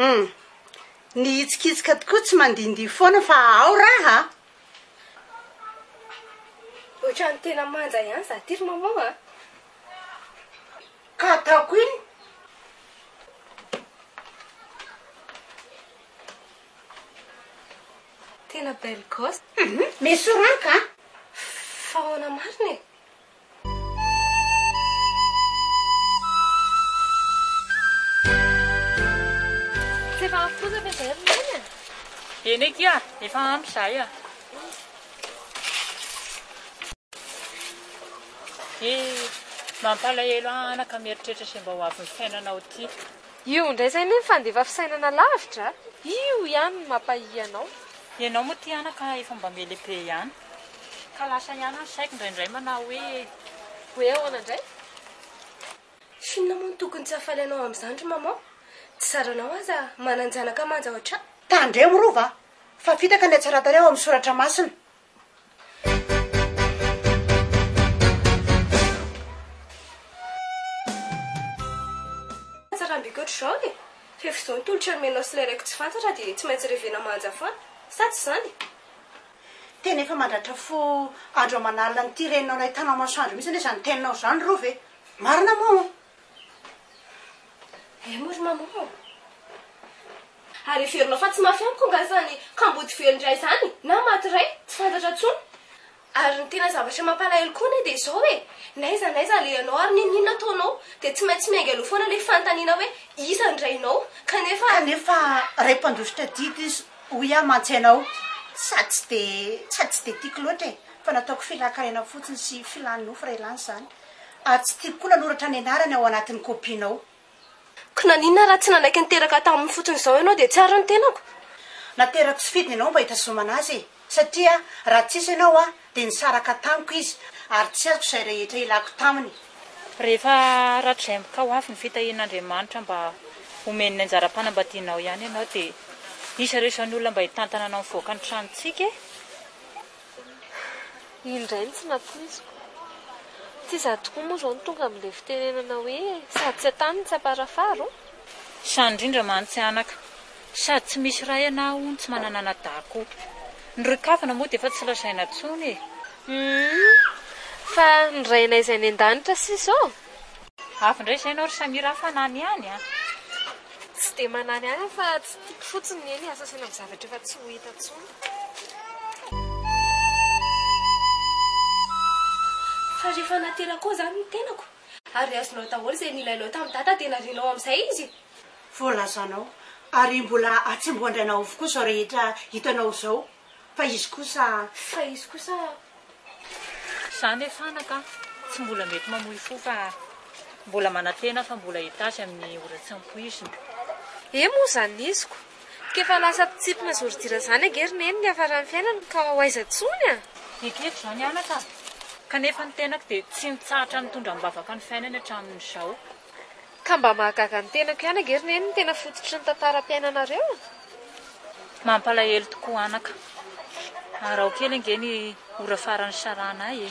Humm. Ny hitsikitsika tokoa tsy mandihindihy foana fa ao raha a! Ohatran'ny tena manja ihany izaho ity ry maman a! Ka ataoko inn? Tena belle gosse. Hum mais soranka an! Fa ahoana marina e? Tsy efa ampy kosa ve izay ry Neny a? Eny akia, efa ampy izahay a! He, mampalahelo anaka mieritreritra izay mba ho avin'ny fiainanao ity. Io indray izay anie mifandefa fisainana lavitra a! Io ihany no mampahia anao. Ianao moa ity anaka efa mba mele be ihany ka lasa ihany ny saiko indraindray manao hoe. Hoe ahoana indray? Inona moa no tokony tsy hahafaly anao amin'izany ry maman? Tsy zaranao aza manan-janaka manja ohatran. Tandremo Rova a! Fa fitaka ny hatsaran-tare ao amin'ny soratra masina. Tsara ambiko ohatry zao e! Rehefa izao ny tolotra nomenao sy ilay reko tsy fantatra dia tsy maintsy revena manja foana, sa tsy izany? Tena efa mandratra fo andro aman'alina an'ity reninao nahitànao masoandro mihitsy anie izany teninao izany Rova e! Marina moa? Eh moa ry maman ô! Ary heverinao fa tsy mafy amiko angaha izany kamboty very indray izany na maty iray tsy fantatra intsony? Ary ny tena zavatra mampalahelo koa anie dia izao e! N'aiza n'aiza alehanao ary n'inon'inona ataonao dia tsy maintsy miainga aloha foana ilay fanontaniana hoe iza ny rainao? Kanefa. Kanefa ray mpandositra didy izy hoy aho mantsy ianao sady tsy dia sady tsy dia tiako loatra e! Fa nataoko filàn-karena fotsiny sy filàn-nofo ray lany izany. ary tsy tiako koa nanoratra ny anarany ao anatin'ny kopianao. Ko naninona raha tsy nanaiky niteraka taminy fotsiny izao ianao dia tsy ary ny tenako? Naterako tsy fidiny ianao mba hitazomana azy e! Satria raha tsy hisy ianao aho dia nisaraka tamiko izy ary tsy azoko izay rehetra ilako taminy. Rehefa haratrizay mk ho avy ny fitahian'Andriamanitra mba homeny ny anjaram-panambadianao ihany ianao dia hisy ireo isan'olona mba hitantana anao mivoaka ny tranontsika e! Iny indray no tsy nampoiziko. Tsy izaho tokoa moa izao no tonga amin'ilay fitenenana hoe sady tsy an-tany no tsy am-parafara o! Sahy indrindra mantsy anaka. Sady tsy misy ray ianao hono tsy manana anadahy koa. Ny ry kavina moa dia efa tsy lazaina intsony e! Humm! Fa ny Rainay izay any an-danitra sisa ô! Avy indray izay ianao ry Samira a, fanany ihany a! Tsy dia manany ihany aho fa tsy tiako fotsiny ny eny asasana amin'ny zavatra efa tsy ho hita intsony. Fa rehefa natera koa izany ny tenako ary azonao daholo izay nilainao tamin'i Dada dia narianao amin'izay izy e! Voalazanao ary mbola atsembohan-drainao avokoa izao rehetra hitanao izao. Fa izy kosa a. Fa izy kosa a. Za ne fanaka a. Tsy mbola mety mamoy fo fa mbola manantena fa mbola hitasy amin'ny ora tsy ampoizina. He moa zany niziko. K'efa lasa mpitsipona sy ordure zany ange ry neny niafaran'ny fiainany ka ho aiza tsony a! Ekeko zao ny anaka a. Kanefa ny tenako dia tsy nitsahatra nitondra am-bavaka ny fiainany hatramin'izao. Ka mba mahagaga ny tenako ihany ange ry neny ny tena fototry ny tantaram-piainanareo? Mampalahelo tokoa anaka. Araho kely ange ny ora farany sarahana ahy e!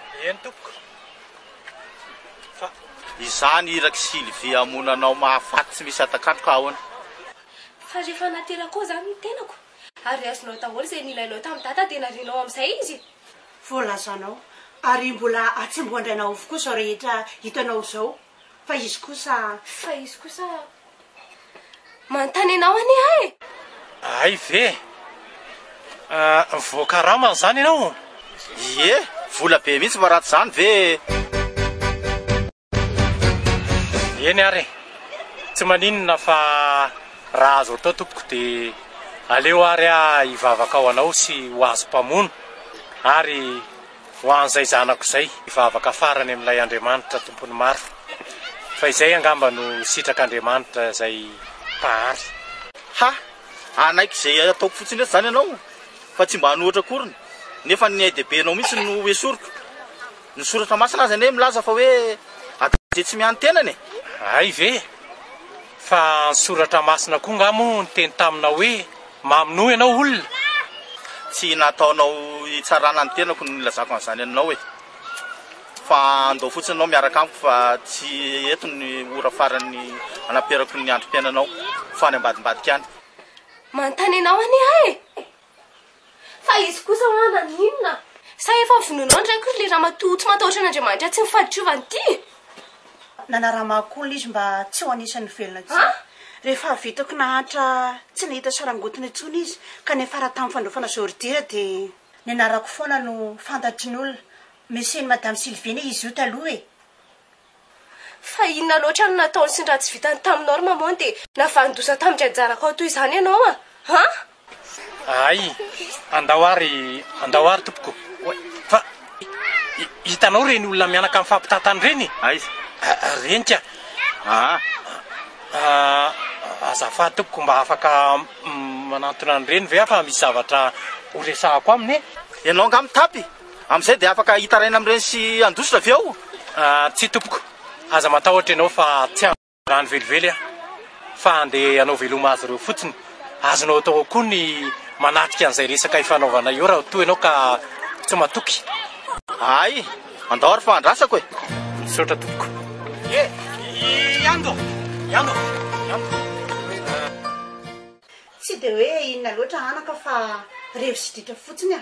Eny tompoko fa izany iraky Sylvie hamono anao mahafaty tsy misy atak'andro ka ahoana? Fa rehefa naterako koa izany ny tenako ary azonao daholo izay nilainao tamin'i dada dia narianao amin'izay izy? Voalazanao ary mbola atsembohan-drainao avokoa izao rehetra hitanao izao. Fa izy kosa. Fa izy kosa. Manontany anao anie aho e! Hay ve? Voakaramany izany ianao? Ie, vola be mihitsy fa ratsy izany ve e! Eny ary e! Tsy maninona fa raha azo atao tompoko dia aleo ary aho hivavaka ho anao sy ho azy mpamono ary. Ho an'izay zanako izay, hivavaka farany amin'ilay Andriamanitra tompon'ny maro, fa izay angamba no sitrak'Andriamanitra izay Mpahary. Ha! hanaiky izay ataoko fotsiny eto izany ianao fa tsy mba hanohitra akoriny, nefa ny ain-dehibenao mihitsy no esoriko. Ny Soratra Masina aza anie milaza fa hoe adin-teny tsy mianin-tenana e! Hay ve? Fa ny Soratra Masina koa angaha moa niteny taminao hoe Mamonoa ianao olona? Tsy nataonao hitsarana ny tenako no nilazako an'izany aminao e! Fa andao fotsiny ianao miaraka amiko fa tsy eto ny ora farany anaperako ny androm-piainanao fa any ambadimbadika any. Manontany anao anie aho e! Fa izy kosa hoa naninona? Sa efa vonoinao ny raiko ry le ramatoa tsy matahotra an'Andriamanitra tsy ny fahadiovany ity? Nanaramago koa ilay izy mba tsy ho anisan'ny velona intsony. Rehefa avy hitako nahantra tsy nahita sarangotiny intsony izy ka niafara tamin'ny fandraofana zôridira dia. Ny anarako foana no fantatry ny olona. Monsieur-n'i Madame Sylvie anie izy io taloha e! Fa inona loatra no nataony sy ny raha tsy vitany taminao ry Maman dia navalodoza tamin'dry anjarako ao toy izany ianao an! Ay, andao ary, andao ary tompoko. Oay, fa hitanao ireny olona mianaka mifampitantana ireny? Aiza? Ireny ka. Aa, azafady tompoko, mba afaka manantona an'ireny ve aho fa misy zavatra horesahako aminy e? Ianao angaha mitapy? Amin'izay dia afaka hitaraina amin'ireny sy handositra ve aho? Tsia tompoko, aza matahotra ianao fa tsy handositra. Raha ny velively aho fa andeha hanao veloma azy ireo fotsiny. Azonao atao ao koa ny manatrika an'izay resaka ifanaovanay eo raha toa ianao ka tsy matoky. Hay, andao ary fa andrasako e! Misaotra tompoko. E! Ihany do! Ihany do! Ihany do! Tsy dia hoe inona loatra anaka fa revo sy ditra fotsiny a!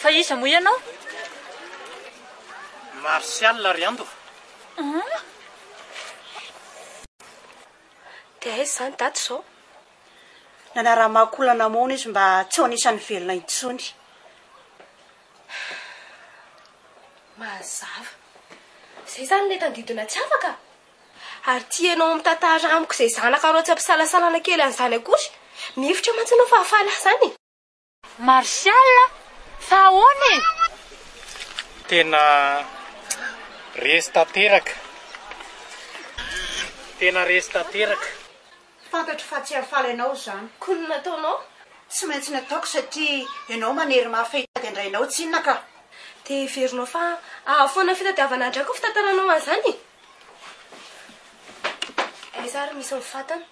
Fa iza moa ianao? Martial ry Andova. Dia aiza izany daty izao? Nanara-mahakoa olana moana izy mba tsy ho anisan'ny velona intsony. Mazava. Izay izany ilay tandidona tsy afaka? Ary tianao mitantara amiko izay zanakareo tsy ampisalasalana kely an'izany akory? Mihevitra mantsy ianao fa hahafaly ahy izany e! Martial, Fa ahoana e? Tena resy tanteraka. Tena resy tanteraka. Fantatro fa tsy hahafaly anao izany. Koa ny nataonao? Tsy maintsy nataoko satria ianao maniry mafy hitady an-drainao tsinona ka. Dia heverinao fa ahy foana ny fitadiavana an-drakiko fitantaranao an'izany? Aiza ary misy ny fatana?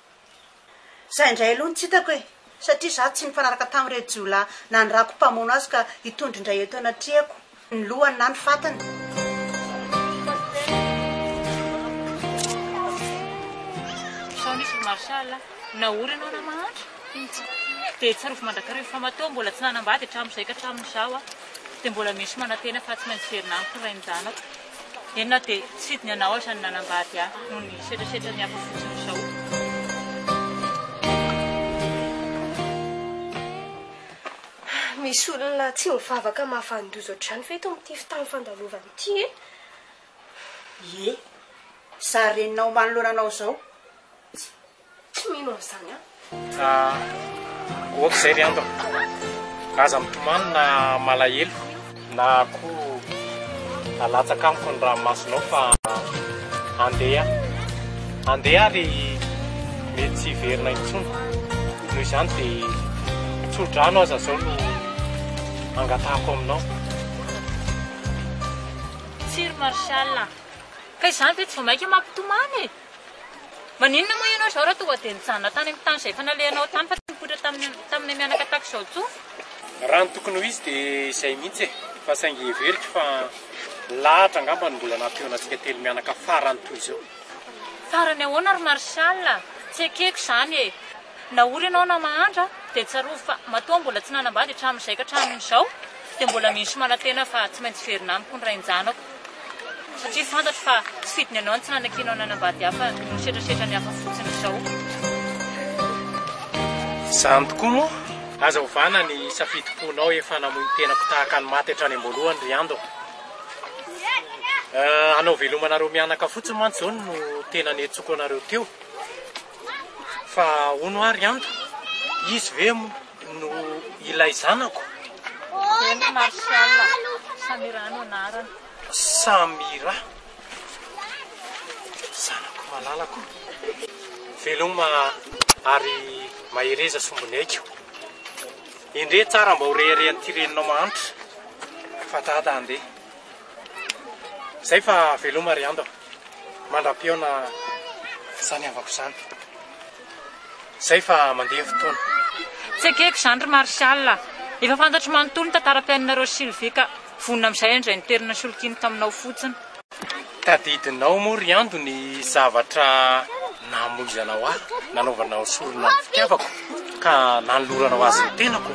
Izay indray aloha no tsy hitako e! Satria izaho tsy nifanaraka tamin'ireo jiolahy nanirako mpamono azy ka hitondra indray eto anatrehako ny lohany na ny fatany. Sao nisy ry Marshall? Nahory ianao raha mahantra? Tsia. Dia tsarovy mandrakariva fa matoa mbola tsy nanambady hatramin'izay ka hatramin'izao aho dia mbola misy manantena fa tsy maintsy hiverina amiko ny rain-janako. Eny na dia tsy fidiny anao aza ny nanambady ahy noho ny setrasetran'ny hafa fotsiny izao. Misy olona tsy mivavaka mahafahan-doza ohatr'izany ve eto amin'ity tany fandalovana ity e? Ie, sa renao manoloana anao izao? Tsy mino an'izany aho. Ah, ok zay ry Ando. Aza mitomany na malahelo. Na koa alatsaka amiko ny ranomasonao fa andeha aho. Andeha aho ry mety tsy hiverina intsony. Noho izany dia tso-drano aza izao no angatahako aminao. Tsia ry Martial a. Ka izany ve tsy vao mainka mampitomany e? Maninona moa ianao izao raha tonga dia nijanona tany amin'ny tany izay efa nalehanao tany fa tsy nipoitra tamin'ny taminay mianaka tahaka izao intsony? Raha ny tokony ho izy dia izay mihitsy e! Fa saingy heveriko fa lahatra angamba no mbola nampihaona antsika telo mianaka farany toy izao. Farany ahoana ry Martial a! Tsy ekeko izany e! Na ory ianao na mahantra dia tsarovy fa matoa aho mbola tsy nanambady hatramin'izay ka hatramin'izao dia mbola mino sy manantena fa tsy maintsy hiverina amiko ny rain-janako. Satria fantatro fa tsy fidiny anao ny tsy nanakianao nanambady hafa no setrasetra ny hafa fotsiny izao. Izany tokoa moa? Aza ovana ny safidim-ponao efa namoy ny tenako tahaka ny maty hatrany am-boalohany ry Ando a! Hanao veloma anareo mianaka fotsiny mantsy izao no tena niantsoako anareo teo. Fa hono ary Anta, izy ve no ilay zanako? Eny Martial, Samira no anarany. Samira, zanako malalako. Veloma ary mahereza sombiny haiko. Endrey tsara mba ho reharehan'ity reninao mahantra fa Dada handeha. Izay fa veloma ry Anta. Mandra-pihaona izany havako izany. Izay fa mandeha ny fotoana. Tsy ekeko izany ry Martial a! Efa fantatro manontolo ny tantaram-piainanareo Sylvie ka vonona amin'izay indray niterina solonkiany taminao fotsiny. Tadidinao moa ry Ando ny zavatra namoizanao ahy, nanaovanao sorona ny fitiavako ka nanoloranao azy ny tenako?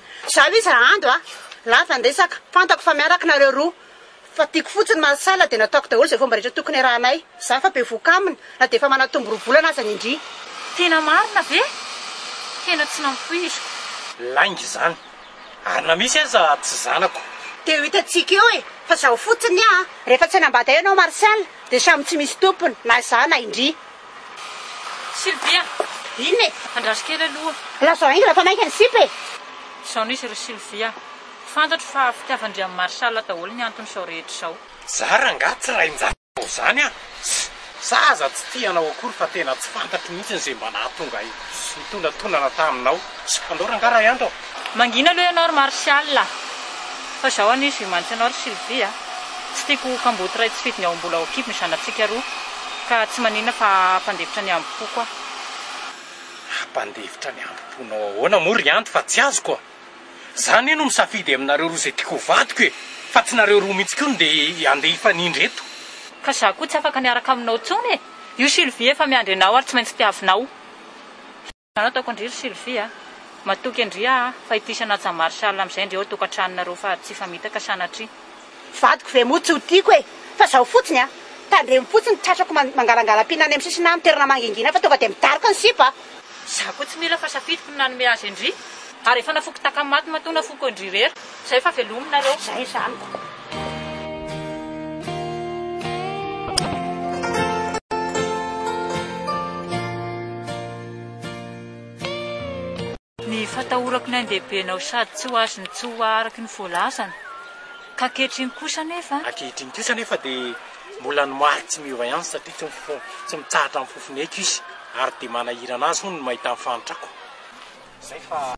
Zalo izy ra Ando a! Lava ny resaka, fantako fa miaraka nareo roa, fa tiako fotsiny maha salle dia nataoko daholo izay fomba rehetra tokony iarahanay, za fa bevohoka aminy na dia efa manatombo roa volana aza ny indry. Tena marina ve? Tena tsy nampoiziko. Lainga izany. Ary na misy aza tsy zanako. Dia ho hitantsika eo e! Fa zao fotsiny a! Rehefa tsy hanambady ahy ianao Martial dia samy tsy misy tompony, na za na indry. Sylvia, inona e? Andraso kely aloha. Lazao haingana fa maika ny sipa e! Izao nisy ry Sylvia, fantatro fa fitiavan-dry Marshall daholo ny antony izao rehetra izao. Za rangah tsy rain-jaza atao zany an! Za aza tsy tia anao akory fa tena tsy fantatro mihitsy izay mba nahatonga ahy sy nitonantonana taminao. Andao rangah ray andro an! Mangina aloha ianao ry Martial a! Fa izao anie izy mimanitsy anao ry Sylvie a! Tsy tiako ho kamboty iray tsy fidiny ao am-bola ao an-kibo ny zanatsika roa, ka tsy maninona fa hampandefitra ny hambom-poko aho. Hampandefitra ny hambom-ponao ahoana moa ry Anty fa tsy azoko a! Za anie no misafidy aminareo roa izay tiako ho vadiko e! Fa tsy nareo roa mihitsy koa no dia handeha hifanindry eto. Ka za koa tsy afaka miaraka aminao intsony e! Io Sylvie efa miandry anao ary tsy maintsy tiavinao. Anao ataoko ndry ry Sylvie a! Matoky an-dry aho fa ity sanatsa Marshall amin'izay ndry ao tokantranonareo fa tsy hifamitaka sanatria. Vadiko ve moa tsy ho tiako e! Fa zao fotsiny a! Tandremo fotsiny tratrako mangalangalam-pihinana eny amin'ny sisinà amin'ny toerana mangingina fa tonga dia midaroka ny sipa a! Za koa tsy mila fa safidiko ny nanome azy an-dry! Ary efa nafoiko takamaty matoa nafoiko an-dry irery. Izay fa velominareo. Izay izany ka. Ny fatahorako ny andehibenao sady tsy ho azony tsy ho araky ny voalazany. Ka ankehitriny kosa anefa. Ankehitriny kosa anefa dia mbola ny marika tsy miova ihany satria tsy tsy mitsahatra ny fofoneko izy ary dia manahirana azy hono ny mahita ny fahantrako. Zay fa.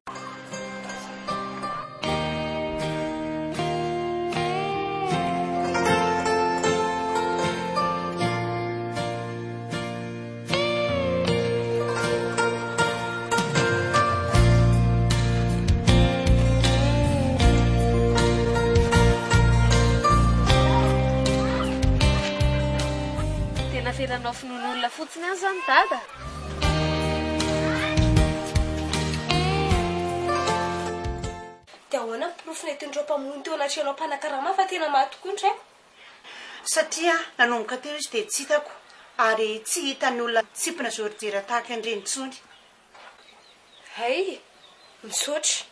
Tena felanao finoan'olona fotsiny any zany dada? Dia ahoana ny porofo nentin'ireo mpamono teo anatrehanao mpanakarama fa tena maty tokoa ny raiko? Satria nanomboka teo izy dia tsy hitako ary tsy hitan'ny olona tsimpona zorijera tahaka an'ireny intsony. Hay! Misaotra.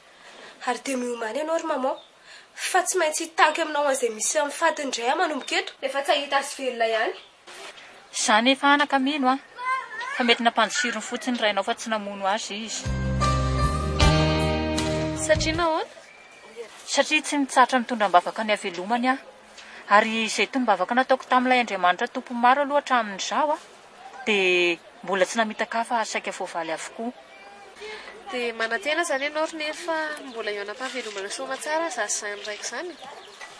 Ary dia miomàna ianao ry Maman, fa tsy maintsy hitaky aminao an'izay misy amin'ny fatiny indray aho manomboka eto. Efa tsy hahita azy velona ihany. Za anefa anaka mino an, fa mety nampandosirony fotsiny ny rainao fa tsy namono azy izy. Satria nahoana? Satria tsy nitsahatra nitondra am-bavaka ny havelomany aho. Ary izay tombavaka nataoko tamin'ilay Andriamanitra Tompo maro aloha hatramin'izaho an. Dia mbola tsy namitaka afa ary saika voavaly avokoa. Dia manantena izany ianao ry Neny fa mbola eo anam-pahavelomana soa aman-tsara za sy izany raiko izany e!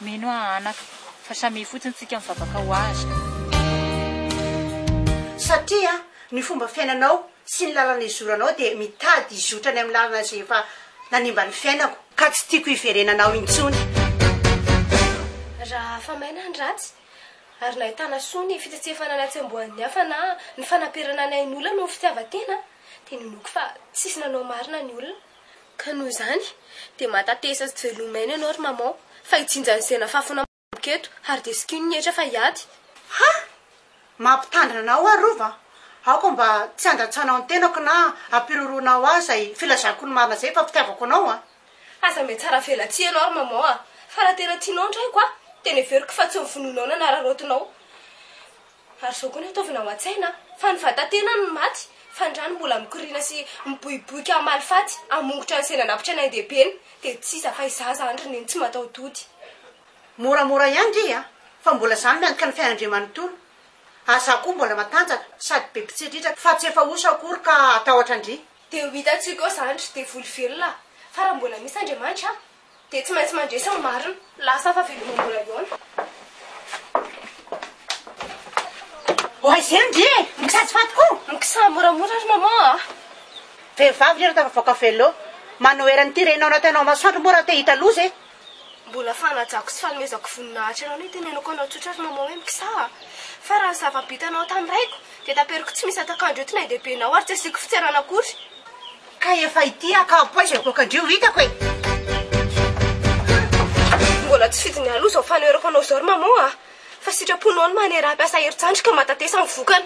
Mino aho anaka, fa samia fotsiny tsika mivavaka ho azy. Satria ny fomba fiainanao sy ny lalana izoranao dia mitady hizotra any amin'ny lalana izay efa nanimba ny fiainako. Ka tsy tiako hiverenanao intsony. Raha afa-maina ny ratsy. ary nahitana soa ny fitsetsefana ny hatsembohan'ny hafa na ny fanaperana ny ain'olona noho ny fitiavan-tena, dia ninoako fa tsisy nanao marina ny olona. Ka noho izany, dia mahatatesa sy tsy velom'aina ianao ry Maman, fa hijinja ny zena fafy namako eto, ary dia sikino ny hetra fa hiady. Ha! Mampitandrina anao aho Rova a! Aoka mba tsy handatsanao ny tenako na hampiroroanao ahy izay filazako ny marina izay fa fitiavako anao a! Aza mety tsara avela tsia ianao ry maman a! Fa raha tena tianao ny raiko a! Dia neveriko fa tsy ny vonoinao na ny araraotinao! Ary izao koa ny ataovina ao an-tsaina a! Fa ny vatan-tenany no maty, fa ny rany mbola mikoriana sy miboiboika hamaly faty, hamongotra ny saina nampitra ny ain-dehibeny! Dia tsy iza fa izaho izany ry neny tsy mataho-tody! Moramora ihany re a! Fa mbola izaho miantoka ny fiainan'Andriamanontolo! Ary izaho koa mbola matanjaka, sady be mpitsiritraka, fa tsy efa osa akory ka hatahotra an-dry! Dia ho hitantsika eo izany ry devoly velona a! Fa raha mbola misy Andriamanitra an! Dia tsy maintsy mandresy ny marina. Lasa fa veloma mbola hihaona. Oaizeno ndry e! Mikajy faty koa! Mikisaha moramora ry maman a! Vehivavy ry ianao tafavoaka veloo! Manohera an'ity renao natao ianao masoandro moa raha te hita loza e! Mbola fanajako sy fanomezako voninahitra anao ny hitenenako anao tsotra ry Maman hoe mikisaha. Fa raha ny zava-bitanao tamin'ny raiko, dia taperiko tsy misy antakandro eto ny ain-dehibenao ary tsy asiako fitserana akory. Ka efa ity aho ka poizina goaka ndry io hitako e! Mbola tsy fidiny aloha izao fanoherako anao izao ry Maman a! Fa sitraponao ny manera hampiasa herin-tsandry ka mahatatesa ny vokany.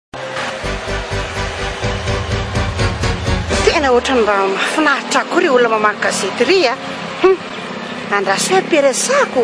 Tena ohatran'ny mba mahafinaritra akory ry olona mamaky gazety ry a. Hum, andraso hoe peresako.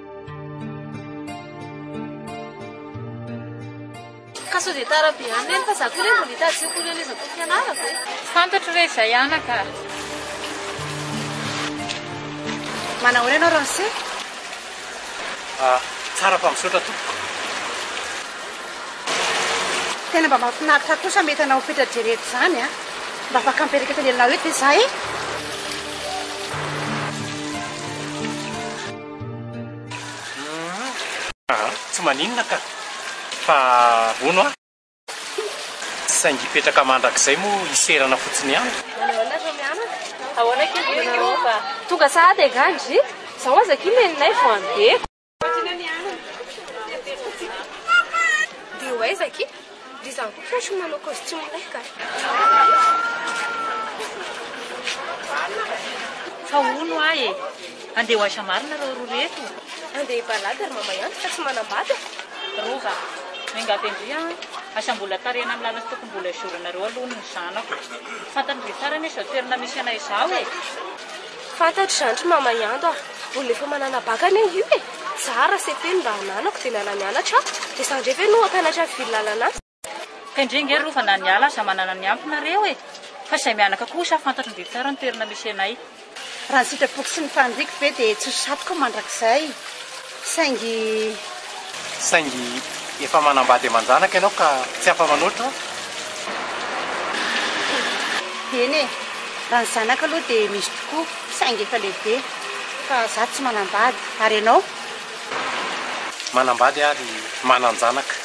Ka sao dia tara be any neny fa za koa neny mbola hitady sekoly any aiza tokony hianarako e. Fantatro re izay anaka a. Manahoana ianao Ramose? Ah, tsara fa misaotra tompoko. Tena mba mahafinaritra ahy kosa mety hanao fetra jery eto izany a. Mba afaka mipetraka eto anelanelanao eto ve za e? Aa tsy maninona ka fa hono a! tsy saingy hipetraka mandrakizay moa hiserana fotsiny ihany. Manahoana ry Miana? Ahoana ankizy vao nanao va? Tonga sahady angaha ndry? Zao aza akia neninay vao andeha. Dia ho aiza akia? Dia izaho koa kay sao manao costume lay ka. Fa hono ahy e! Andeha ho aiza marina ireo roa ireto? Andeha hibalaga ry mama ihany fa tsy manambady a! Rova, miangavy an-dry an! Aza mbola tarihana amin'ny lalana tokony mbola hizoranareo aloha ny zanako. Fantany be tsara anie izao toerana misy anay izao e! Fantatro izany ry mama Iando a! Olona efa mananabaka anie io e! Zara, cepe, no mba ananako dia niala nianatra aho, dia za indray ve no hampianatra ny fivily lalana? Kendrey nge rova na ny ala aza manana ny ampy nareo e! Fa izay mianaka kosa fantatro mby tsara ny toerana misy anay. Raha ny sitrapoko sy ny faniriako ve dia tsy ho satoka mandrakizay. Saingy. Saingy efa manambady aman-janaka ianao ka tsy afa-manoatra? Eny e! Raha ny zanaka aloha dia misy tokoa saingy efa lehibe. Fa izaho tsy manambady. Ary ianao? Manambady ary manan-janaka.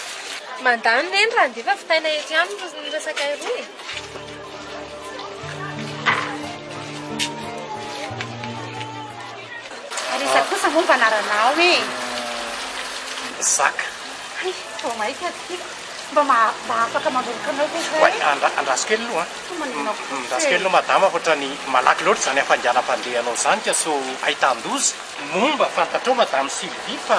Mandà ny reny raha handefa vitaina eto ihany no resakay roa e! Ary iza kosa moa mba anaranao e? Zaka. Hay, vao maika ry tiako. Mba mba afaka mandronoka anao ve za e? Oay, andraso kely aloha an! Toa manina kosa e! Andraso kely aloha madama hoatrany malaky loatra izany hafainganam-pandehanao izany ka sao ahitàn-doza. Moa mba fantatrao madame Sylvie fa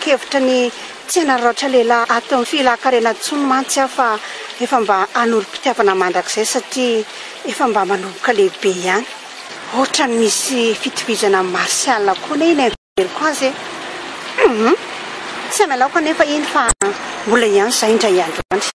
Kevitra ny tsy hanararaotra lehilahy ato amin'ny fihilakarena intsony mantsy aho fa efa mba hanorim-pitiavana mandrakizay satria efa mba manomboka lehibe ihany. Ohatran'ny misy fitovizana amin'ny martial koa anie iny fijeriko azy e! Humm! Tsy hamelaoko anefa iny fa mbola hiantso izahay indray andro any.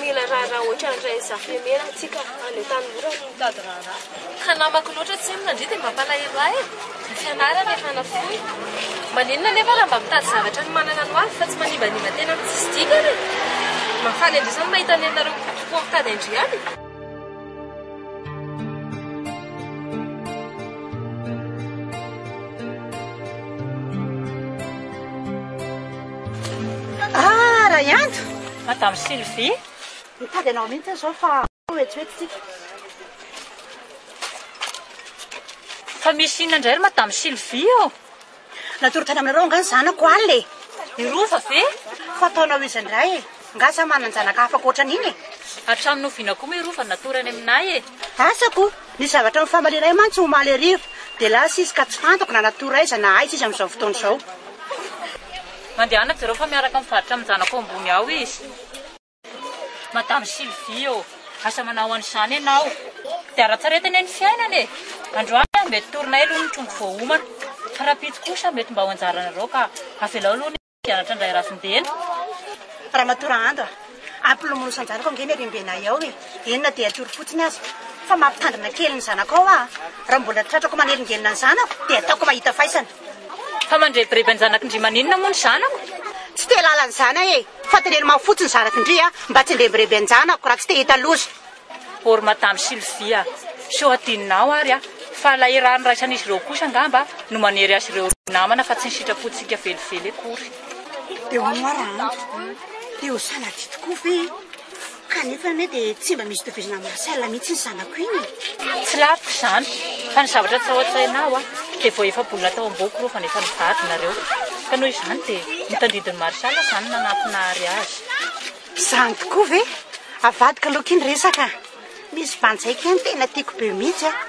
Mila raharaha ohatran'ilay zafemena antsika any an-tanimora no mitady raharaha. Ka namako loatra tsy henona ndry dia mampalahelo ahy e! Ny fianarana efa nafoy. Maninona anefa raha mba mitady zavatra ny manana no avy fa tsy manimbanimba tena amin'ny tsisy dikany e! Mahafaly an-dry zany mahita ny anareo mikotrokoa mitady an-dry ihany e! Madame Sylvie, mitady anao mihitsy aho izao fa hoetsoetsy tsika. Fa misy inona indray ry Madame Sylvie ô? Natory tany aminareo angaha ny zanako alina e? I Rova ve? Fa ataonao iza indray e? Angaha samy manan-janaka hafa ankoatran' iny e? Hatramin'ny oviana koa moa i Rova no natory any aminay e? Asako o! Nisy zavatra nifamaliana ahy mantsy omaly hariva, dia lasa izy ka tsy fantako na natory aiza na aiza izy amin'izao fotoana izao. Mandehana jereo fa miaraka mivarotra amin-janako ambony ao izy. Madame Sylvie ô! Aza manao an'izany ianao. Dia aratsaretana ny fiainana e! Androany mety torinay aloha ny trondro vao homana, fa rahampitso kosa mety mba ho anjaranareo ka avelao aloha ny mpianatra indray ravin-dena. Ramatoa Rahandra a! Ampilomano sanjanako ange ny harembenay ao e! Eny na dia atoro fotsiny aza, fa mampitandrina kely ny zanakao aho. Raha mbola tratrako manelingelina ny zanako, dia ataoko mahita faisana. Fa mandrebireby an-janakindry maninona moa ny zanako? Tsy te halala ny zana e! Fa teneno mafy fotsiny zanakindry a! Mba tsy handrebireby an-janako raha tsy te hita loza. Or madame Sylvia a! sao hadinonao ary a! fa ilay iray niraisan'izy ireo kosa angamba no manery azy ireo roa namana fa tsy ny sitrapontsika velively akory. Dia hono ary an! dia ho sanatria tokoa ve? Kanefa anie dia tsy mba misy tohizana amin'i Marcel mihitsy iny zanako iny e! Tsy laviko izany, fa ny zavatra tsy ao an-tsaina ahy dia vao efa bonina tao am-boko rova nefa nivady nareo. Ka noho izany dia ny tandindon'i Marcel izany no nanampianary azy. Izany tokoa ve? Avadiko aloha akia ny resaka a! Misy vanjaiko ihany tena tiako be mihitsy an!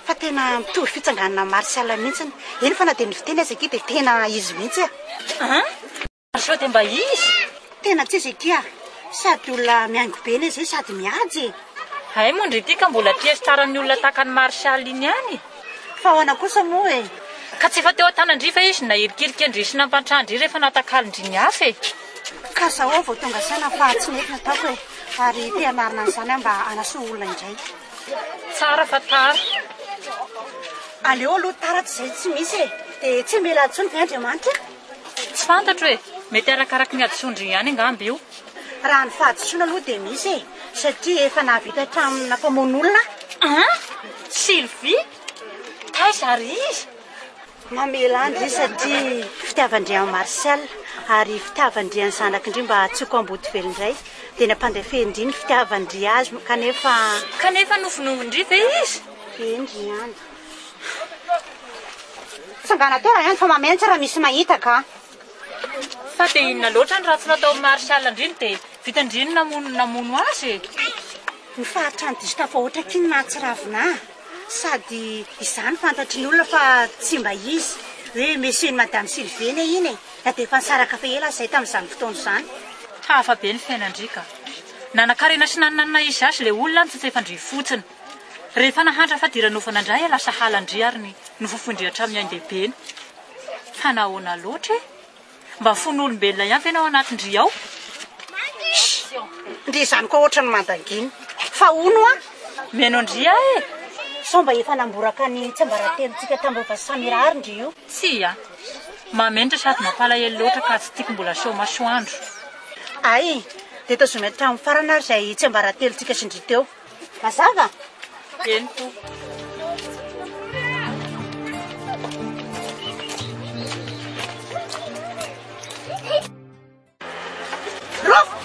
Fa tena mitovy fitsanganana amin'i Marcel mihitsy, eny fa na dia ny fiteny aza akia dia tena izy mihitsy e! An? Ary sao dia mba izy? Tena tsy izy ity ah! Sady olona mihaingo be ilay zay sady mihaja e! Hay moa ndry ity ka mbola tiestaran'ny olona tahaka an'i Marshall iny ihany e! Fa ahoana kosa moa e! Ka tsy efa teo an-tanan-dry ve izy no nahirikirika an-dry sy nampantran-dry rehefa natakalon-dry ny hafa e! Ka zao aho vao tonga saina fa tsy nety ny ataoko e! Ary te hanarina an'izany aho mba hanasoa olona indray. Tsara fa tara. Aleo aloha tara tsy izay tsy misy e! Dia tsy hamela ahy intsony ve Andriamanitra? Tsy fantatro e! Mety arakaraky ny hadisoan-dry ihany angamba io. Raha ny fahadisoana aloha dia misy e! Satria efa nahavita hatramin'ny nampamono olona aho. An! Sylvie? Taiza ary iza? Mamela an-dry izy satria fitiavan-dry an'i Martial, ary fitiavan-dry an'ny zanakindry mba hahatsiako Ambotovelo indray. Dia nampandefendry ny fitiavan-dry azy kanefa. Kanefa novonoin-dry ve izy? Eny ry an! Tsangana teo raha eny fa mameno tsara misy mahita ka. Fa dia inona loatra ny ratsy nataon'i Marshall an-driny dia vita an-driny namono namono azy e. Ny faritran'i Distaff ao Otraky no nahatsiravina ahy sady izany fantatry ny olona fa tsy mba izy hoe Monsieur n'i Madame Sylvene iny e, na dia efa nisaraka fa ela aza izahay tamin'izany fotoana izany. Hafa be ny fiainan-dry ka. Nanakarena sy nanana na izy azy ilay olona no tsy tsy efa an-dry fotsiny. Rehefa nahantra fadiranovana indray ela sahala an-dry ary ny nofofoin-dry hatramin'ny ain-dehibeny. Fa nahoana loatra e? Mba fon'olombelona ihany ve ny ao anatin-dry ao? Shh! Ndry izany koa hoatran'ny mandangina. Fa hono hoa? Mihaino an-dry aho e! Sao mba efa namboraka ny tsiambaratelontsika tamin'ireo vazo samy irahary ndry io? Tsia. Mahamenatra sady mampalahelo loatra ka tsy tiako mbola aseho masoandro. Hay! Dia tazominy hatramin'ny farany ary izay tsiambaratelontsika sy ndry teo. Mazava? Eny tompoko. Rofy!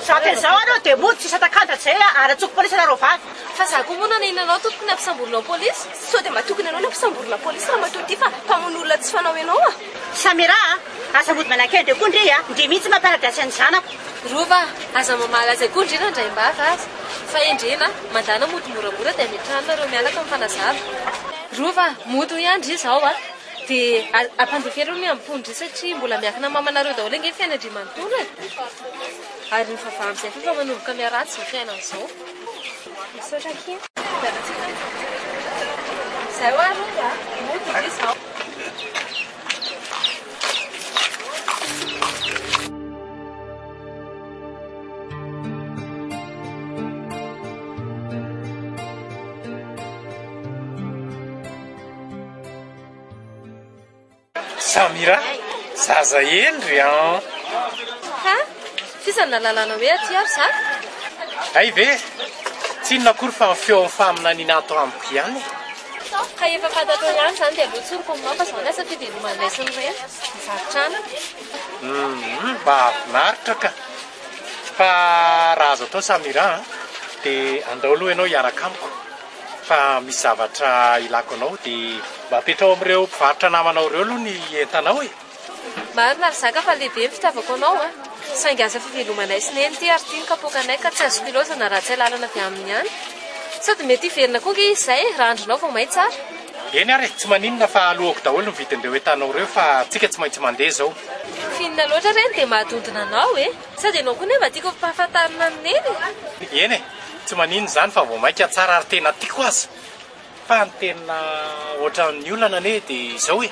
Sampy an'izao anao dia mody tsy sata-kanja tsy izay ary atsoko polisy anareo vavy. Fa za ko moa nanahina anao tompoko na mpisamborina ao polisy? Sao dia mba tokony anao na mpisamborina polisy ramatoa ty fa mpamono olona tsy fanao enao a! Samira a! Aza mody manakay be koa ndry a! Ndry mihitsy mamparadrasy an'ny zanako. Rova a! Aza mamaly azy akory ndry Randraimbavy a! Fa endrena a! Mandana mody moramora dia hametrahany nareo mianaka mifanazava. Rova a! Mody hoy ahy ndry izao a! Dia ampandefa ery ny miamboho ndry satria mbola miankina mamanareo daholo ange ny fiainandrimanontolo e! Ary ny vava amin'izay koa efa manomboka miharatsy izao fiainana izao. Misaotra akia. Izay ho'a Rova a! Mody ndry izao. Samira, zaza Henry an! Ha? F'iza no nalalana hoe aty ary za? Hay ve, tsy inona akory fa ny feon'ny faminaniana ato amiko ihany e! Ka efa fantatrao ihany izany dia aleo tsy ry kominao fa izao ny asa ity dia lomano indray sy ny reny mivarotra anana. Mahafinaritra ka! Fa raha azo atao Samira a, dia andao aloha ianao hiaraka amiko fa misy zavatra ilako anao dia mba apetraho amin'ireo mpivarotra namanao ireo aloha ny entanao e! Marina ry zaka fa lehibe ny fitiavako anao a! Saingy asa fivelomanay sy neny ity ary ity ny kapoakanay ka tsy azoko ilaozana raha tsy alalana avy aminy ihany. Sady mety hiverina koa ange izy izay raha andrinao vao may tsara. Eny ary e, tsy maninona fa aloako daholo ny vidin'ireo entanao ireo fa tsika tsy maintsy mandeha izao. Finina loatra re ny dia mahadondona anao e! Sady ianao koa anie mba tiako ampahafantarina an'i Neny e! Eny e, tsy maninona izany fa vao mainka tsara ary tena tiako aza. Fa ny tena ohatran'ny olana anie dia izao e!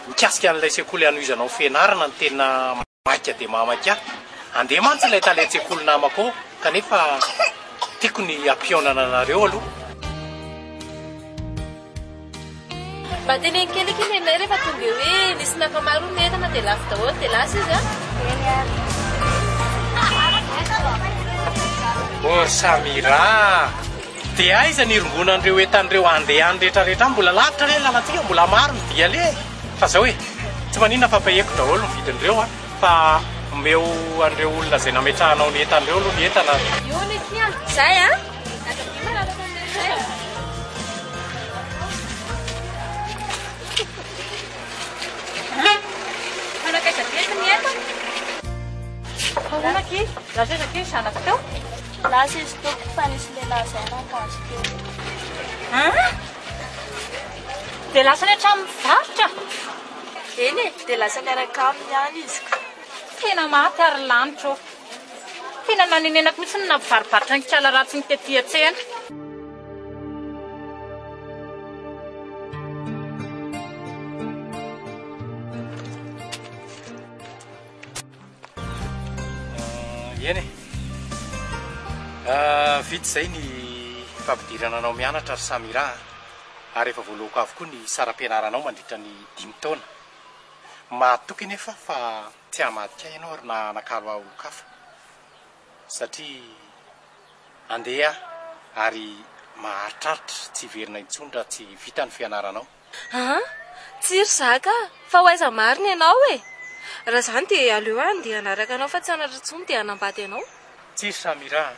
mikasika an'ilay sekoly hanohizanao fianarana ny tena maika dia mamaika ahy. Andeha mantsy ilay tale an-tsekoly namako ao kanefa tiako ny hampihaonana anareo aloha. Mba teneno kely akia nenay rehefa tonga eo hoe nisy nankamaroany ny entana dia lafo daholo dia lasa izy an. Eny ary. Ô Samira! Dia aiza ny hirongonan'ireo entan'ireo andehan retraretra any? Mbola lavitra re ny lalantsika, mbola maro ny dia aleha e! Fa zao e! Tsy maninona fa payeko daholo ny vidin'ireo a! Fa omeo an'ireo olona izay nametrahanao ny entana ireo aloha ny entana a! Io ny aty an! Zay an! Manakaiza be eto ny entana? Ahoana akia? Lasa aiza akia ny zanako teo? Lasa izy tompoko fa nisy lehilahy zay natazo teo. An? Dia lasa any an-tranon'ny varotra? Eny e, dia lasa niaraka aminy ihany izy ka. Tena maty ary lanitra ô! Tena nanenenako mihitsy ny nampivaribaritra ny kiala ratsiny tety an-tsena. Eny e, vita izay ny fampidirana anao mianatra ry Samira a, ary efa voaloako avokoa ny saram-pianaranao mandritra ny dimy taona. Mahatoky anefa fa tsy hamadika ahy ianao ary na hanakalo ahy olon-kafa, satria handeha aho ary maharitraritra tsy hiverina intsony raha tsy vita ny fianaranao. Aa! tsia ry zaka a! fa ho aiza marina ianao e! raha izany dia aleo aho andeha hanaraka anao fa tsy hanatra intsony dia hanambady anao. Tsia ry Samira a!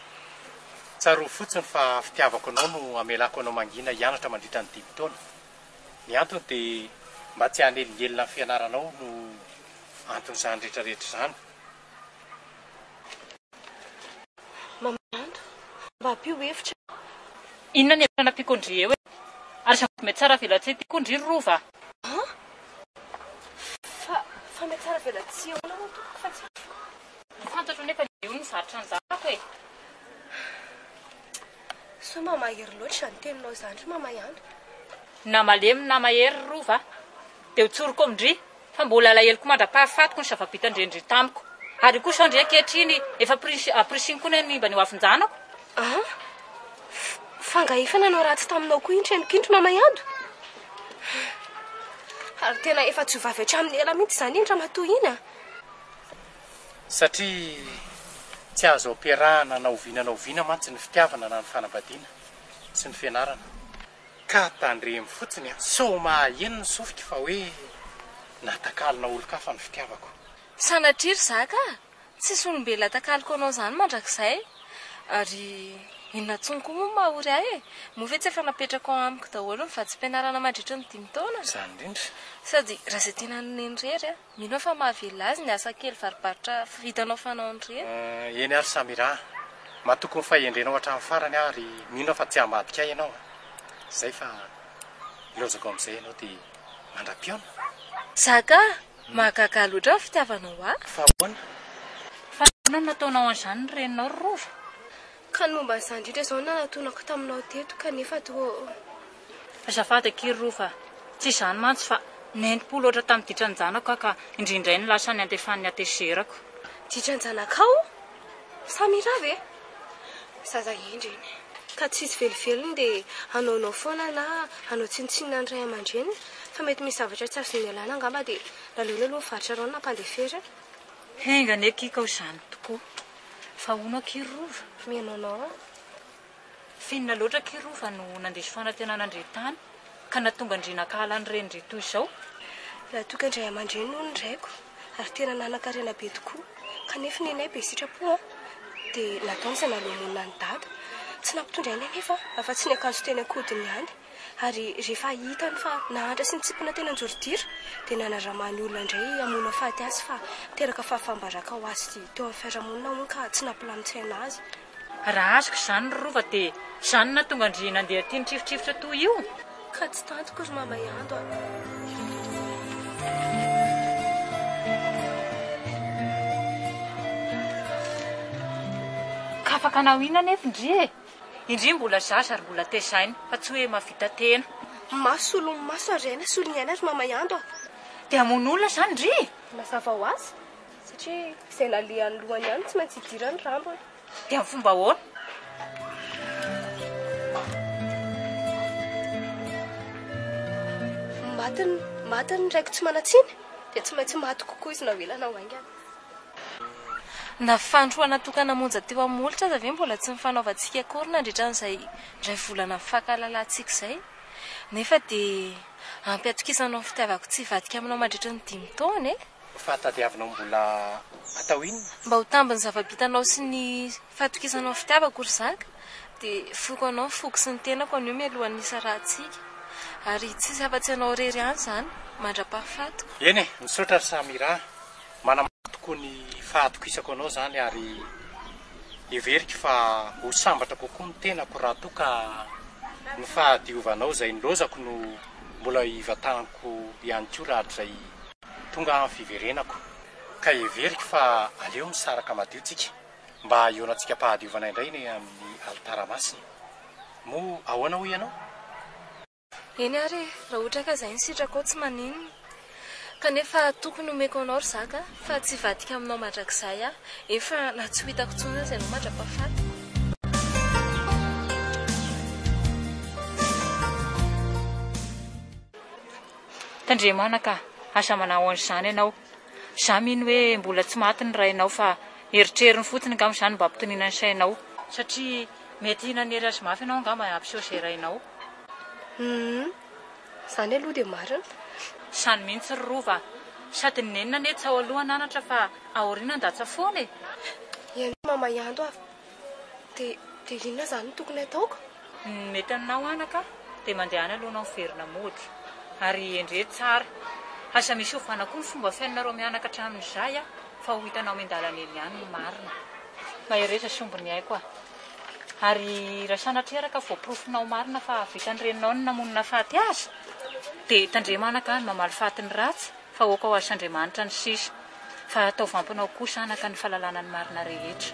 tsarovy fotsiny fa fitiavako anao no amelako anao mangina hianatra mandritra ny dimy taona. Ny antony dia mba tsy hanelingelina ny fianaranao no anton'izany rehetrarehetra izany. Mamanto, mba ampio hevitra aho. Inona ny hevitra nampiako ndry eo e? Ary zavatra mety tsara velatsihy tiako ndry ry Rova a! An? Fa, fa mety tsara velatsihy ahoana hono tompoko fa tsy haiko? Fantatro anefa ny eo ny zatra anjarako e! Sao mba mahery loatra izany teninao izany ry Mama Ihany? Na malemy na mahery ry Rova a! Dia ho tsoriko ao ndry! Fa mbola alaheloko mandra-pahafatiko ny zava-bitan-dRendry tamiko. Ary io koa izao ndry ankehitriny efa pris, aprisiny koa ny hanimba ny hoavin-janako. Ah, f, fa nga efa nanao ratsy taminao koa iny reniko iny ry Mama Yado? Ary tena efa tsy ho vavy hatramin'ny ela mihitsy izany iny ramatoa iny ah! Satria tsy azo ampiarahana na oviana na oviana mantsy ny fitiavana na ny fanambadiana sy ny fianarana. Ka tandremo fotsiny a! Sao mahaheno ny sofiko fa hoe natakalona olon-kafa ny fitiavako. Sanatria ry zaka a! Tsisy olombelona atakaloko anao zany mandrakizay! Ary inona tsony koa moa no mahory ahy e! Moa ve tsy efa napetrako ao amiko daholo ny vatsim-pianarana mandritry ny dimy taona? Izany indrindra! Sady raha izay tena nony irery a! Mino aho fa mahavelona azy ny asa kely varobarotra vitanao fanaony ireny. Eny ary Samira a! Matoky ny fahendrenao hatramin'ny farany aho ary mino aho fa tsy hamadika ahy ianao a! Izay fa ilaozako amin'izay ianao dia mandra-pihaona. Zaka a! Mahagaga loatra ny fitiavanao ahy. Fa ahoana? Fa ahoana no nataonao an'izany ny reninao ry Rova? Ka ny momba an'izany indrindra izao no nanatonako taminao teto kanefa toa. Azafady akia Rova, tsy izany mantsy fa nentim-po loatra tamin'ny ditran-janako aho ka indray indray no lasa any andefan'ny hatezerako. Ditran-janakao? Samira ve? Zaza hendry iny. Ka tsy hisy velovelony dia hanaonao foana na hanao tsinontsinona ny ray aman-dreniny fa mety misy zavatra tsy azony nialana angamba dia naleony aloha nivarotra rano nampandeferiny. Enga anie akia ka ho izany tokoa. Fa hono akia rova? Mais non non. Finina loatra akia rova no nandiso fanantenana an-dry Tany ka nahatonga an-dry nankahala ny renin-dry toy izao. Raha toa ka indray aman-dreny hono ny raiko ary tena nanan-karena be tokoa kanefa nenay be sitrapo an! dia nataony izay nahaloa-monina an'i Dada. Tsy nampitondra aina anefa afa-tsy ny akanjo teny an-kodiny ihany. ary rehefa hitany fa nahantra sy nitsipona teny an-jorodira dia nanaramaha ny olona indray hamono hafaty azy fa niteraka fahafaham-baraka ho azy teo amin'ny fiarahamonina hono ka tsy nampilamin-tsaina azy. Raha azoko izany ry Rova dia izany no nahatonga an-dry Nandeha tia nitrifotrifotra toa io. Ka tsy tantiko ry Mama Ihando a. Ka afaka naho inona anefa ndry e! Indri mbola zaza ary mbola tezaina fa tsy hoe mahavita tena. Mafy solon'ny maso ary aina solon'ny aina ry Mama Yando a! Dia hamono olona izany ry? Mazava ho azy, satria izay nalehan'ny lohany ihany no tsy maintsy hidirany ny rambony. Dia amin'ny fomba ahoana? Matin'ny, matin'ny raiko tsy manan-tsiny, dia tsy maintsy maty kokoa izy na ho ela na ho haingana. Na fandroana tokana monja teo amin'ny molotra aza ve mbola tsy nifanaovantsika akory nandritra an'izay iray volana mifankahalalàntsika izay? Nefa dia ampy hatokisanao ny fitiavako tsy hivadika aminao mandritry ny dimy taona e! Fahatadiavinao mbola atao inona? Mba ho tambin'ny zava-bitanao sy ny fahatokisanao ny fitiavako ry zaka dia foiko anao ny foko sy ny tenako anio mialohan'ny hisarahantsika. Ary tsy hisy afa-tsy ianao irery ihany izany mandra-pahafatiko. Eny e! Misaotra ry Samira a! Manambara tokoa ny fahatokisako anao izany ary heveriko fa ho sambatra kokoa ny tenako raha toa ka ny fahadiovanao izay nilaozako no mbola ivatanako ihany koa rahatrizay tonga aho ny fiverenako. Ka heveriko fa aleo misaraka madio tsika mba hiorantsika am-pahadiovana indray eny amin'ny alitara masina. Moa ahoana hoy ianao? Eny ary e, raha ohatra ka izay ny sitrakao tsy maninona. Kanefa tokony omeko anao ry zaka fa tsy hivadika aminao mandrakizay aho, eny fa na tsy ho hitako intsony aza ianao mandra-pahafatiko. Tandremana ka, aza manao an'izany ianao. Izaho mino hoe mbola tsy maty ny rainao fa eritreriny fotsiny angamba izany mba hampitoniana ny sainao. Satria mety nanery azy mafy ianao angamba hampiseho izay rainao. Humm. Izany aloha dia marina. Izany mihitsy ry Rova a! Sady ny nenina anie tsy ao aloha an'anatra fa aoriana an-datsa foana e! Ianao ry Mama Ianto a! Dia dia inona izany no tokony hataoko? Ny mety aminao anaka dia mandehana aloha ianao miverina mody. Ary endreho tsara. Aza misy ovana koa ny fomba fiainanareo mianaka hatramin'izay a! Fa ho hitanao miandalana eny ihany ny marina. Mahereza sy omby ny aiko a! Ary raha sanatria ary ka voaporofonao marina fa hahavitan'ny reninao ny namonina faty azy, dia tandremo anaka ny mamaly faty ny ratsy, fa aoka ho azon'Andriamanitra ny sisa. Fa ataovy ampinao kosa anaka ny fahalalana ny marina rehetra.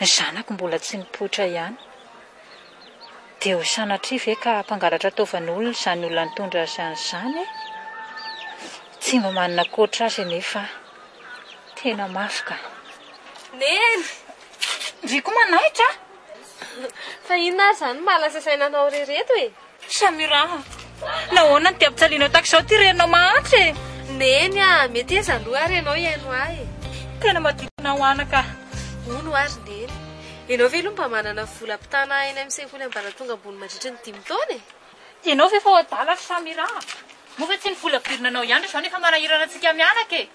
Ny zanako mbola tsy nipoitra ihany dia ho sanatria ve ka hampangalatra ataovan'olona izany olona nitondra azy any izany e? Tsy mba manana ankoatra azy anefa aho. Tena mafy ka. Neny! Ndry koa manahitra a! Fa inona ary izany no maha lasa saina anao ry reto e? Samira a! Nahoana no dia ampijalianao tahaka izao ity reninao mahantra e? Neny a! Mety hoe zandry ary ianao hihaino ahy e! Tena maditona ho anaka. Hono ary Neny. Ianao ve aloha mba manana vola ampitana eny amin'ny sekoly ambaratonga ambony mandritra ny dimy taona e? Ianao ve efa ho adala ry Samira a! Moa ve tsy ny vola averina anao ihany izao no efa manahirana antsika mianaka e?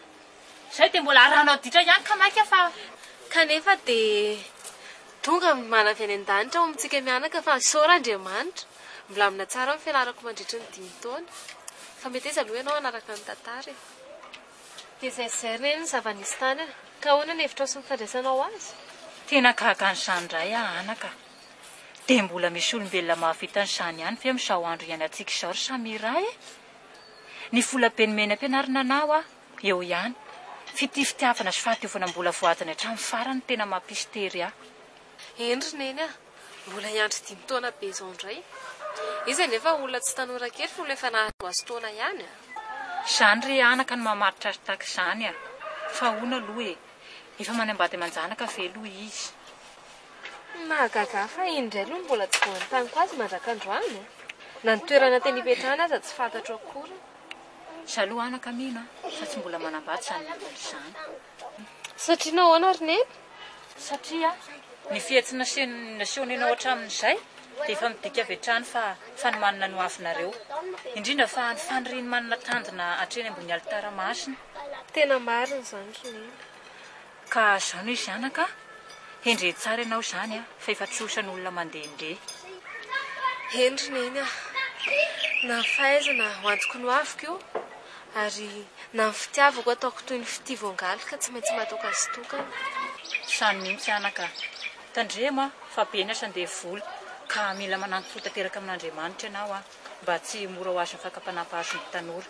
Zay dia mbola arahanao ditra ihany ka maika fa. Kanefa dia tonga manavy any an-danitra ao amintsika mianaka fa isaora Andriamanitra milamina tsara ny fianarako mandritry ny dimy taona. Fa mety aiza aloha ianao hanaraka ny tantara e? Dia izay zay re ny zava-nisy tany a! Ka ahoana ny hevitrao sy ny fandraisanao azy? Tena gaga an'izany indray aho anaka a! Dia mbola misy olombelona mahavita an'izany ihany ve amin'izao andro iainantsika izao ry Samira e? Ny volabe nomeny am-pianarana anao aho Eo ihany. Fitifitiavana sy fahadiovanam-bola voadiny hatramin'ny farany tena mampisy tery ahy. Eny ry neny a! Mbola hiandry dimy taona be izao indray. Izy anefa olona tsy tanora kely fony efa nahazo azy taona ihany a! Izany ry anaka no mamaritra azy tahaka izany a! Fa ahoana aloha e! Efa manambady aman-janaka ve aloha izy? Ny mahagaga ahy fa iny indray aloha no mbola tsy voan'ny taniko azy mandrak'androany a! Na ny toerana tena hipetrahany aza tsy fantatro akory. Zalo anaka mino a! Fa tsy mbola manambady zany olona izany. Satria nahoana ary Neny? Satria ny fihetsiny nasehony nasehony anao hatramin'izay dia efa midika avy hatrany fa fanomanana ny hoavinareo. Indrindra fa ny fanirian'i Manina tanjona hatreny ambony alitara masina. Tena marina izany ry Neny. Ka zany hoe zanaka a! Hendrey tsara ianao izany a! Fa efa trosan' olona mandehandeha. Hendry neny a! Na ny fahaizana ho antoko nohaviko io, ary na ny fitiavako ataoko toy ny fitia voangaly ka tsy maintsy matoka sy tokana. Izany mihitsy anaka a! Tandremo a! Fa be ny asa ndevoly ka mila manampy fo tanteraka amin' Andriamanitra ianao a! Mba tsy ho mora ho azon' ny fakam-panahy mpahazo ny tanora.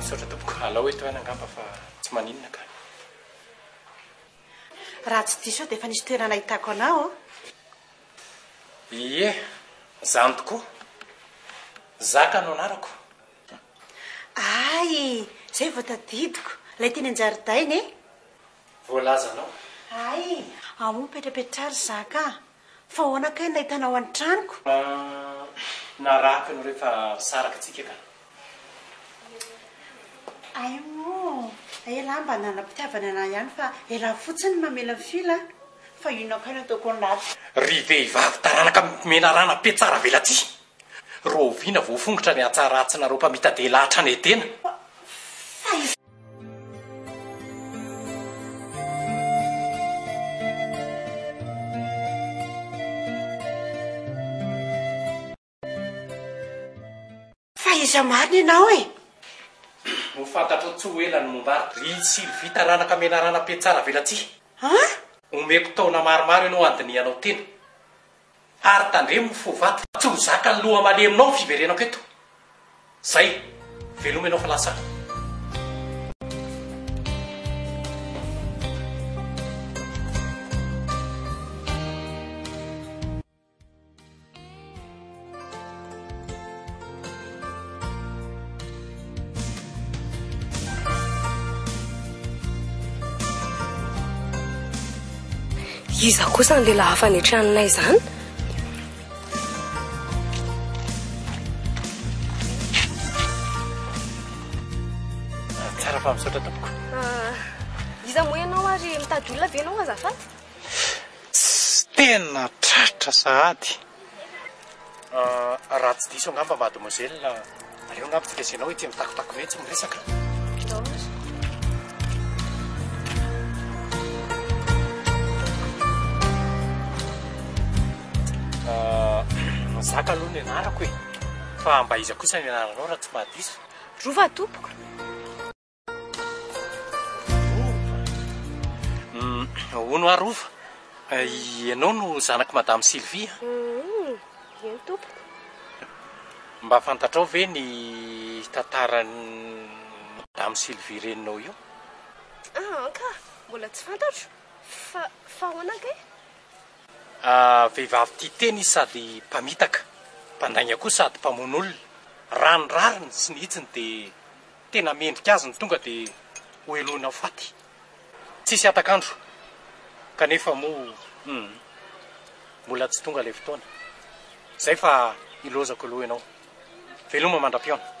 Misaotra tompoko, alao eto aina angamba fa tsy maninona ka. Raha tsy diso aho dia efa nisy toerana nahitako anao an. Ie, izany tokoa. Zaka no anarako. Hay, izay vao tadidiko. Ilay teny an-jaridaina e. Voalazanao. Hay, ao moa mipetrapetra ry Zaka a. Fa ahoana kay ny nahitana ao an tranoko? Ahh na raty no refa saraka tsika ka. Aimoo elah mba nanana mpitiavana anah ihany fa elah fotsiny ny mamela ny fil a! Fa inona kay no ataoko ny ratsy? Ry vehivavy taranaka menarana pe tsara velatsihy! Rahoviana voafongotra ny hatsaratsinareo mpamitadela hatrany Edena? Fa iza? Fa iza marina ianao e? Ho fantatrao tsy ho ela ny momba ahy, ry Sylvita ranaka menarana mpiantsara velatsihy. An? Omeko taona maromaro ianao handinihanao tena. Ary tandremo ny fo vato fa tsy ho zakan'ny loha maleminao ny fiverenako eto. Zay. Veloma ianao fa lasa aho. Iza kosa ny lehilahy fanetrehananay izany? Tsara fa misaotra tompoko. Ah, iza moa ianao ary mitady olona ve ianao azafady? Tena tratra sahady. Raha tsy diso angamba mademoiselle, aleo angamba tsy resena hoe ity mitakotako mihitsy ny resaka. Zaka aloha ny anarako e, fa Ambaiza kosa ny anaranao raha tsy mahadiso? Rova tompoko. Hono ary Rova, ianao no zanak'i Madame Sylvie an? Eny tompoko. Mba fantatrao ve ny tantaran'i Madame Sylvie reninao io? Aa ka, mbola tsy fantatro. Fa, fa ahoana kay? Vehivavy tia tena izy sady mpamitaka, mpandainga koa sady mpamono olona. Raha ny rariny sy ny hitsiny dia. Tena mendrika azy ny tonga dia ho helohina ho faty. Tsisy hatak'andro. Kanefa moa humm. Mbola tsy tonga ilay fotoana. Izay fa hilozako aloha ianao. Veloma mandra-pihaona.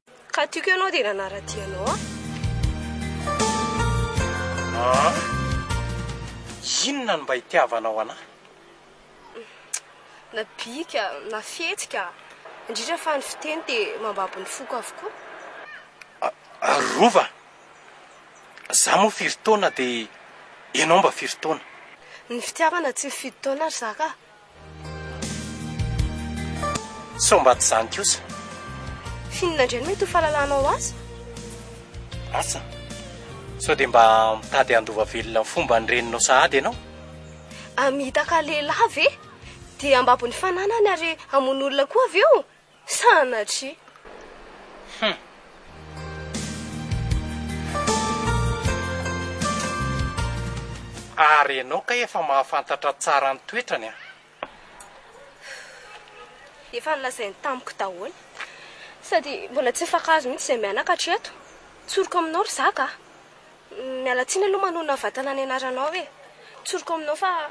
Ka tiako ianao dia nanara-dia anao aho. Inona no mba itiavanao an'ahy? Na bika, na fihetsika, indrindra fa ny fiteny dia mambabo ny foko avokoa. Rova, za moa firy taona dia ianao mba firy taona? Ny fitiavana tsy mifidy taona ry zaka a! Sao mba tsy izany kosa? F'inona indray no mety ho fahalalanao azy? Asa, sao dia mba mitady handova velona ny fomba nireninao sahady ianao? Hamitaka lehilahy ve? Dia hambabo ny fananany ary hamono olona koa avy eo? Sanatria! Hum. Ary ianao kay efa mahafantatra tsara ny toetrany an! Efa nolazainy tamiko daholo. Sady mbola tsy mifankahazo mihitsy izay mianaka hatreto. Tsoriko aminao ry zaka a! Miala tsiny aloha manonona vatana ny anaranao e! Tsoriko aminao fa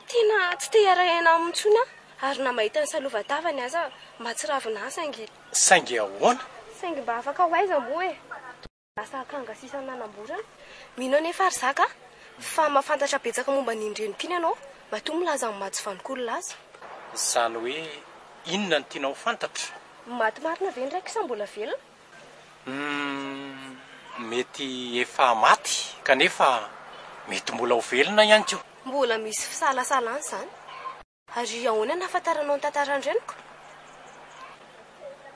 Tena tsy te hiara-hiaina aminy intsony aho, ary na mahita ny salova-tavany aza mahatsiravina ahy, saingy. Saingy ahoana? Saingy mba afaka ho aiza moa e? Toa lasa akanga sisa nanamborana. Mino anefa ry zaka a, fa mahafantatra betsaka momba an'iny reniko iny ianao, matoa milaza ny maha-tsy vanon-kolona azy. Izany hoe inona no tianao ho fantatra? Maty marina ve ny raiko sa mbola velona? Humm mety efa maty kanefa mety mbola ho velona ihany koa. Mbola misy fisalasalana izany. Ary ahoana ny ahafantaranao ny tantaran-dreniko?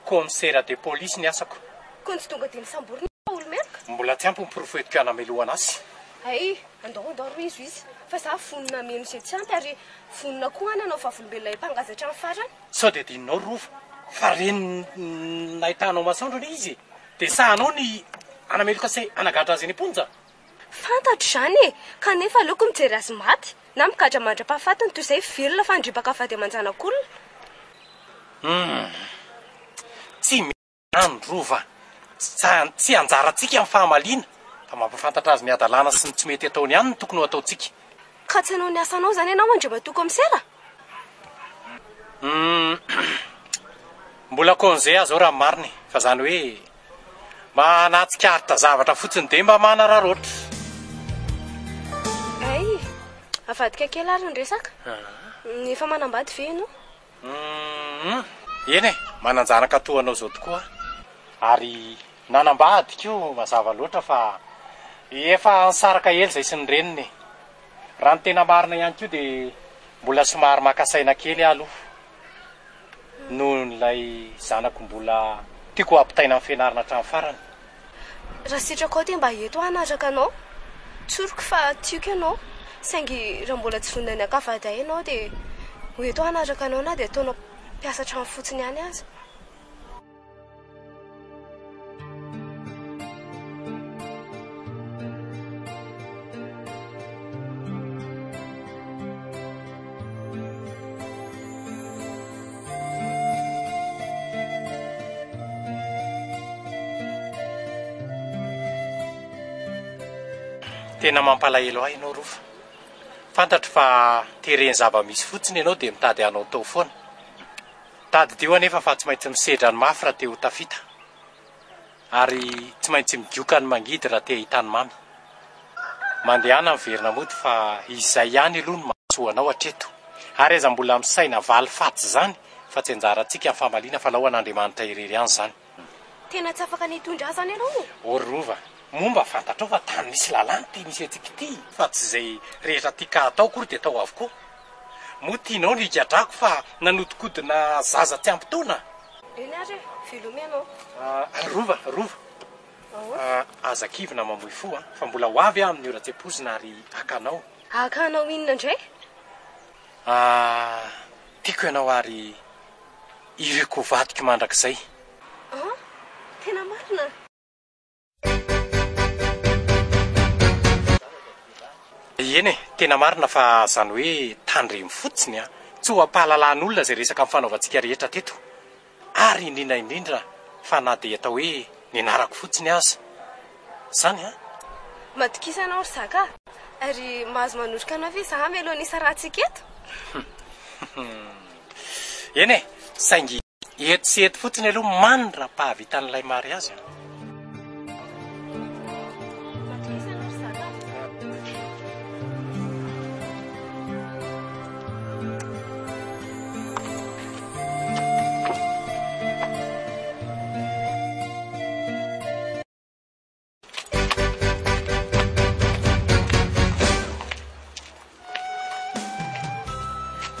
Commissaire de police ny asako. Koa tsy tonga dia misamborina aho fa olo-meloka? Mbola tsy ampy ny porofo entiko hanamelohana azy. Hay, andao andao ry izo izy fa izaho vonona hameno izay tsy ampy ary vonona koa hanana ho vavolombelonay mpangady hatramin'ny farany. Sao dia adinonao ry Rova fa renin'ny nahitanao masoandro anie izy e! Dia sahanao ny hanameloka sy hanagadra azy eny am-ponja? Fantatro izany e! Kanefa aleoko mijery azy maty na migadra mandra-pahafatiny toy izay velona fa handripaka vady aman-janak'olona. Humm. Tsy. Androva, Tsy anjarantsika ny fahamaliana, fa mampahafantatra azy ny hadalana sy ny tsy mety ataony ihany no tokony ho ataontsika. Ka tsy hanao ny asanao izany ianao Andriamatoa Kaomisera? Humm, Mbola congé aza aho raha ny marina e! Fa izany hoe mba nahatsikaritra zavatra fotsiny dia mba manararaotra. Hay, avadika kely ary ny resaka. Efa manambady ve ianao? Umm eny e! Manan-janaka toa anao izao tokoa aho. Ary nanambady koa mazava loatra fa efa nisaraka ela izay sy ny reniny e! Raha ny tena marina ihany koa dia mbola somary maka saina kely aho aloha noho ilay zanako mbola tiako hampitaina an'i Fianarana hatramin'ny farany. Raha sitraka aho dia mba eto aho hanaraka anao Tsoriko fa tiako ianao Saingy raha mbola tsy vonona ny hankafady ahy ianao Dia ho eto aho hanaraka anao Na dia ataonao mpiasa an-trano fotsiny ihany aza Tena mampalahelo ahy ianao Rova. Fantatro fa tereny zava-misy fotsiny ianao dia mitady hanao tao foana. Tadidio anefa fa tsy maintsy misedra ny mafy raha te ho tafita. Ary tsy maintsy migioka ny mangidy raha te hahita ny mamy. Mandehana miverina mody fa izay ihany aloha no mahasoa anao hatreto. Ary aza mbola misaina valifaty izany fa tsy anjarantsika ny famaliana fa lao an'Andriamanitra irery ihany izany. Tena tsy afaka ny hitondra ahy izany ianao ô! Ô ry Rova, moa mba fantatrao fa tany misy lalàna ity misy antsika ity? Fa tsy izay rehetra tika hatao akory dia atao avokoa. Moa tianao ny higadrako fa nanodikodina zaza tsy ampy taona a! Eny ary e! Veloma ianao! Rova, Rova! Aza kivy na mamoy fo a! Fa mbola ho avy aho amin'ny ora tsy ampoizina ary haka anao! Haka anao inona indray? Tiako ianao ary iriko ho vadiko mandrakizay! An! Tena marina? Eny e, tena marina fa zany hoe tandremo fotsiny an! Tsy ho am-pahalalan'olona izay resaka nifanaovantsika rehetra teto, ary indrindra indrindra fa na dia atao hoe nianarako fotsiny aza zany an! Matokisa ianao ry zaka a! Ary mahazo manoroka anao ve izaho amelon'ny hisarahantsika eto? Eny e, saingy. Eto sy eto fotsiny aloha man raha pahavitan'ilay mariazy an.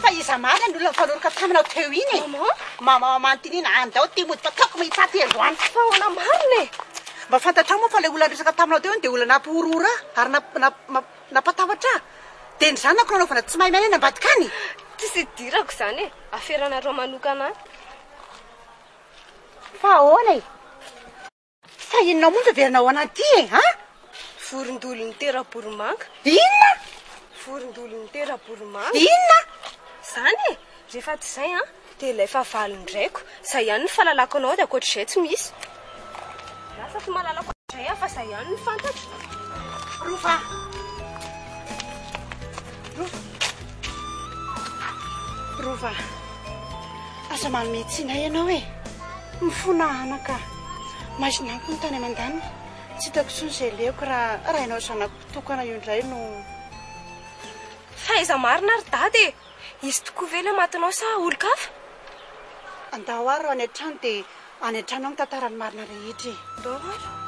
Fa iza marina ny olona nifanoroka taminao teo iny e? Maman? Maman amantiniana, andao ty mody fa taoko mahitsapy androany. Fa ahoana marina e? Mba fantatrao moa fa ilay olona niresaka taminao teo iny dia olona nampihorohoro ahy ary namp- namp- namp- nampatahotra ahy. Dia ny zanako nanaovana tsy maimay any ambadika any. Tsisy idirako izany e. Aferanareo manokana any. Fa ahoana e? Fa inona moa no tadiavinao ana aty e a? Vorondolon'ny tera-boromanga. Inona? Vorondolon'ny tera-boromanga. Inona? Zany e! Rehefa tsy izay an, dia ilay fahavalon-draiko. Izay ihany no fahalalako anao dia ankoatr'izay tsy misy. Lasa tsy mahalala ankoatr'izay aho fa izay ihany no fantatro. Rova! Rova! Rova! Aza manome tsiny ahy ianao e! Mifona hanana ka! Maizina amiko ny tany aman-danitra, tsy hitako intsony izay lehoko raha raha ianao zanako tokana io indray no. Fahaiza marina ry dada e! Izy tokoa ve ilay matinao sa olon-kafa? Andao ary raha any an-trano dia any an-trano aho mitantara ny marina rehetra e! Andao ary.